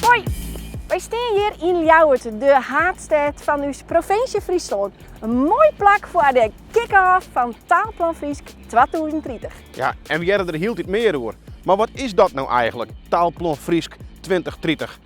Hoi, wy steane hjir yn Ljouwert, de haadstêd fan ús provinsje Fryslân. In moai plak foar de kick-off fan Taalplan Frysk 2030. Ja, en we hearre der hieltyd mear oer. Mar wat is dat no eigenlik, Taalplan Frysk 2030?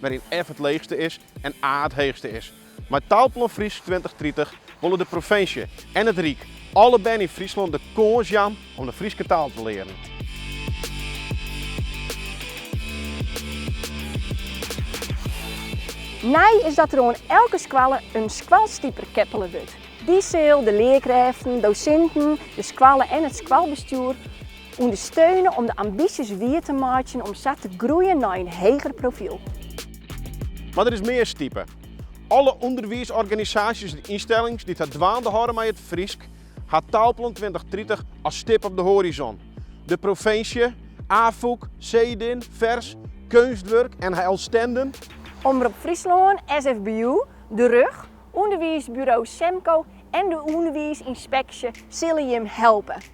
wêryn F it leechste is en A it heechste is. Mei Taalplan Frysk tweintich tritich wolle de provinsje en it Ryk alle bern yn Fryslân de kâns jaan om de Fryske taal te learen. Nij is dat der oan elke skoalle in skoalstiper keppele wurdt. Dy sil de learkrêften, dosinten, de skoalle en it skoalbestjoer Understeune om de ambysjes wier te meitsjen om sa te groeien nei in heger profiel. Mar der is mear stipe. Alle ûnderwiisorganisaasjes en ynstellings dy't har dwaande hâlde mei it Frysk, ha Taalplan tweintich tritich as stip op de hoarizon. De provinsje, Afûk, Cedin, Fers, Keunstwurk, NHL Stenden, Omrop Fryslân, SFBO, de RUG, ûnderwiisburo Semko en de ûnderwiisynspeksje sille jim helpe.